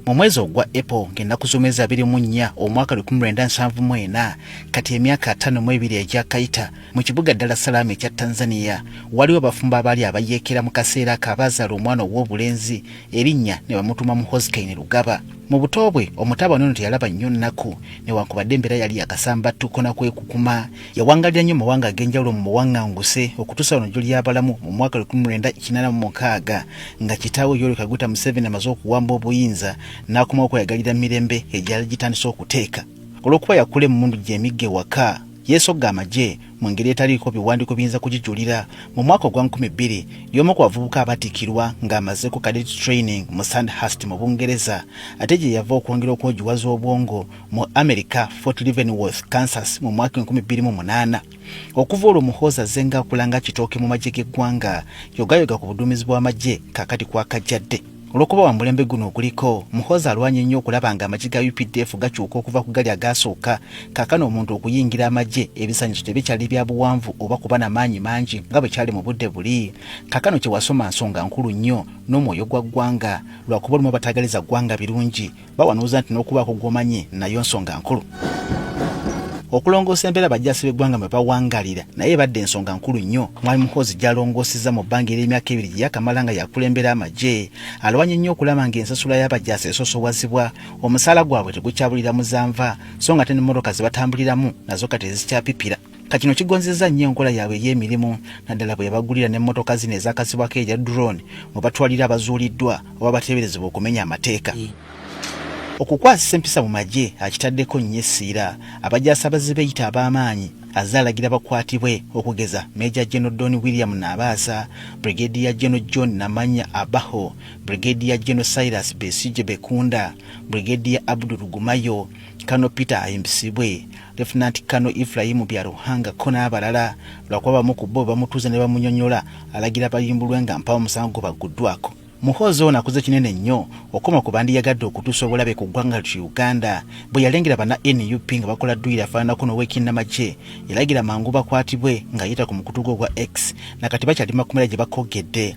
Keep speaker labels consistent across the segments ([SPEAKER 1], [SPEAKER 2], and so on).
[SPEAKER 1] mu mwezi ogwa apple ng'ennaku z'omwezi abiri mu nnya omwaka lukumi lwenda nsanvu mu ena kati emyaka ataano mu ebiri egyakayita mu kibuga ddala salaama ekya tanzania waliwo abafumbo abaali abayeekera mu kaseera ako abaazaala omwana ow'obulenzi erinnya ne bamutuuma mu hosikaini lugaba mu buto bwe omutabani ono teyalaba nnyo nnaku newankubadde embeera yali yakasambattuko na kwekukuma yawangalira nnyo mawanga ag'enjawulo mu buwaŋŋanguse okutuusa wano gy'oli abalamu mu mwaka 1986 nga kitaawe yoweri kaguta museveni amaze okuwamba obuyinza n'akoma okweyagalira mirembe egyali gitandise okuteeka olw'okuba yakula emmundu gy'emigga ewaka yeesogga amagye mu ngeri etaliiko biwandiiko biyinza kugijulira mu mwaka ogwa 2000 y'omu ku bavubuka abatikirwa ng'amazeeko cadet training mu sandhurst mu bungereza ate gye yava okwongera okwogiwaza obwongo mu america fort leavenworth kansas mu mwaka 2008 okuva olwo muhoozi azze ng'akula nga kitooke mu magye g'eggwanga yogayoga ku buduumizi bw'amagye kakati kwakajjadde olwokuba wa mulembe guno oguliko muhoozi alwanya ennyo okulaba nga amagye ga updf gakyuka okuva ku gali agaasooka kakana omuntu okuyingira amagye ebisanyizo tebikyali bya buwanvu oba kuba na maanyi mangi nga bwe kyali mu budde buli kakano kye wasoma nsonga nkulu nnyo n'omwoyo gwa ggwanga lwakuba olumu abatagaliza ggwanga birungi bawanuuza nti n'okubaako gw'omanyi nayo nsonga nkulu okulongoosa embeera bajjaasi b'eggwanga mwe bawangalira naye ebadde ensonga nkulu nnyo mwali muhoozi gyalongoosezza mu bbanga ery'emyaka ebiri gye yakamala nga yakulembera amagye alwanye nnyo okulaba ng'ensasula y'abajaasi esosowazibwa omusaala gwabwe tegukyabulira muzanva so nga te n'emmotoka ze batambuliramu nazo kati ezikyapipira ka kino kigonzezza nnyo enkola yaabwe ey'emirimu naddala bwe yabagulira n'emmotoka zino ezakazibwako erya drone mwe batwalira abazuuliddwa oba bateeberezebwa okumenya amateeka okukwasisa empisa mu magye akitaddeko nnyo essiira abajasaabaze beeyita ab'amaanyi azze alagira bakwatibwe okugeza meja geno don william naabaasa brigedi ya geno john namanya abaho brigedi ya geno silas besije bekunda brigedi ya abdu lugumayo kano peter ayimbisibwe Lieutenant Kano Ifulayimu Byaruhangako n'abalala lwakuba bamu ku bo bamutuuza ne bamunyonyola alagira bayimbulwe nga mpawo omusango gwebagguddwako. Muhoozi ono akoze kinene nnyo okukoma ku bandiyagadde okutuusa obulabe ku ggwanga ltu Uganda bwe yalengera bana nup nga bakola dduyiro afaananako n'owekinnamagye yalagira mangu bakwatibwe ng'ayita ku mukutu gwe ogwa X na kati bakyali makomera gye bakoggedde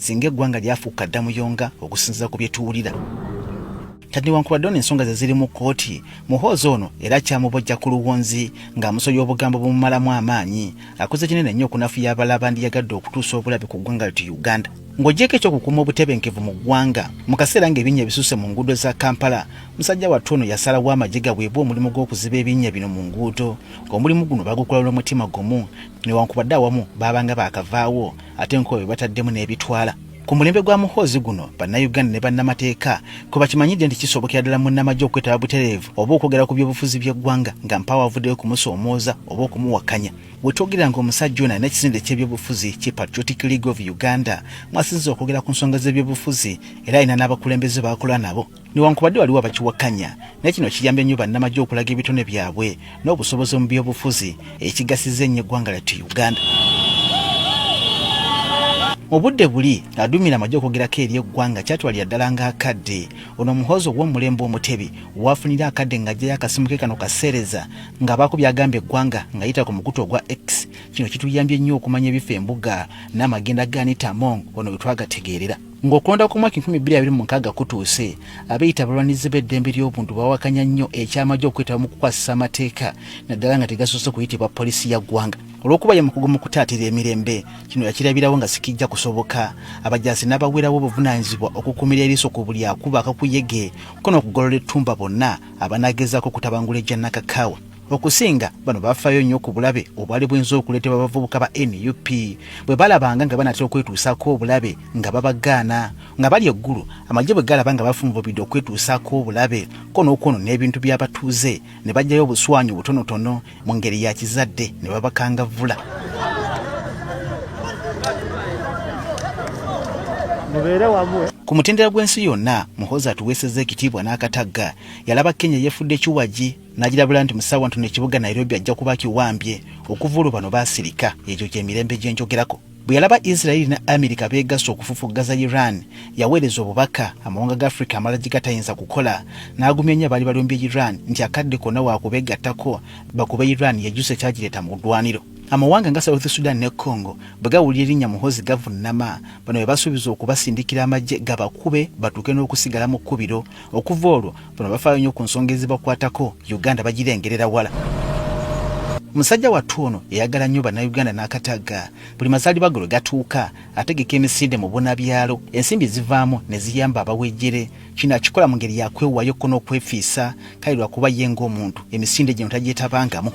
[SPEAKER 1] singa eggwanga lyafuuka dda muyonga okusinziza ku byetuwulira kati newankubadde ono ensonga ze ziri mu kkooti muhoozi ono era kyamubojja ku luwonzi ng'amusoya obugambo bumumalamu amaanyi akoze kinene nnyo okunafuya abala bandiyagadde okutuusa obulabe ku ggwanga liti uganda ng'ogyeko ekyokukuuma obutebenkevu mu ggwanga mu kaseera ng'ebinnya ebisuuse mu nguudo za kampala musajja wattu ono yasalawo amagye gaweebwa omulimu gw'okuziba ebinnya bino mu nguudo ng'omulimu guno bagukola n'omutima gumu newankubadde awamu baabanga baakavaawo ate nkobe bataddemu n'ebitwala ku mulembe gwa muhoozi guno bannayuganda ne bannamateeka kwe bakimanyidde nti kisobokera ddala munnamagye okwetaba butereevu oba okwogera ku byobufuzi by'eggwanga nga mpaawo avuddeyo kumusoomooza oba okumuwakanya bwe twogerera nga omusajja ono alina ekisinde ky'ebyobufuzi ki patriotic league of uganda mwasinziza okwogera ku nsonga z'ebyobufuzi era alina n'abakulembeze baakola nabo newankubadde waliwo abakiwakanya naye kino kiyambye nnyo bannamagye okulaga ebitone byabwe n'obusobozi mu byobufuzi ekigasiza ennyo eggwanga lyattu uganda mu budde buli aduumira amagye okwogerako eri eggwanga kyatwalira ddala ng'akadde ono omuhoozi ow'omulembe omutebi waafunira akadde ng'ajjayo akasimu ke kano kaseereza ng'abaako byagamba eggwanga ng'ayita ku mukutu ogwa x kino kituyambye nnyo okumanya ebifa embuga n'amagenda gaanita mong ono wetwagategeerera Ng'okulonda kw'omwaka enkumi bbiri abiri mu mukaaga kutuuse, abeeyita abalwanirizi b'eddembe ly'obuntu bawakanya nnyo eky'amagye okwetaba mu kukwasisa amateeka naddala nga tegasoose kuyitibwa poliisi ya ggwanga olw'okuba ye mukugu mu kutaatira emirembe. Kino yakirabirawo nga sikijja kusoboka abajaasi n'abaweerawo obuvunaanyizibwa okukuumira eriiso ku buli akuba akakuyege ko n'okugolola ettumba bonna abanaagezaako okutabangula egya Nakakaawa. Okusinga bano bafaayo nnyo ku bulabe obwali buyinza okuleetebwa abavubuka ba nup bwe balabanga nga banatera okwetuusaako obulabe nga babagaana nga bali eggulu amagye bwe galaba nga bafunvubidde okwetuusaako obulabe ko n'okwonona ebintu by'abatuuze ne bajjayo obuswanyu butonotono mu ngeri ya kizadde ne babakangavvula
[SPEAKER 2] mubeere wamu eh? ku mutendera gw'ensi
[SPEAKER 1] yonna muhozi atuweeseza ekitiibwa n'akatagga yalaba kenya yefudde kiwagi Nagirabula nti musawa ntono ekibuga Nairobi ajja kuba kiwambye okuva olwo bano baasirika ekyo kyemirembe gye njogerako. Bwe yalaba Israeli ne Amerika beegasse okufufuggaza Iran, yaweereza obubaka amawanga ga Afrika amala gye gatayinza kukola n'agumya nnyo abaali balumbye Iran nti akadde konna waakubeegattako bakube Iran yejjuse kyagireeta mu ddwaniro. Amawanga nga South Sudan ne Congo bwe gawulira erinnya Muhoozi gavunnama, bano be basuubiza okubasindikira amagye gabakube batuuke n'okusigala mu kkubiro. Okuva olwo Bano bafaayo nnyo ku nsonga ezibakwatako, Uganda bagirengerera wala. Musajja wattu ono eyagala nnyo Bannayuganda n'akataga buli mazaalibwa ge lwe gatuuka ategeka emisinde mu bunabyalo ensimbi zivaamu ne ziyamba abawejjere. Kino akikola mu ngeri ya kwewaayo ko n'okwefiisa kale lwakuba ye ng'omuntu emisinde gino tagyetabangamu.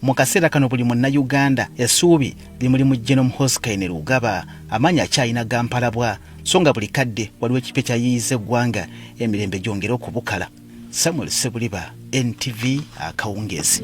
[SPEAKER 1] Mu kaseera kano buli munnayuganda essuubi limuli mu Genome Hoskaine Lugaba amaanyi akyalina gampalabwa so nga buli kadde waliwo ekipya kyayiiyiza eggwanga emirembe gyongere okubukala. Samuel Ssebuliba, NTV, Akawungeezi.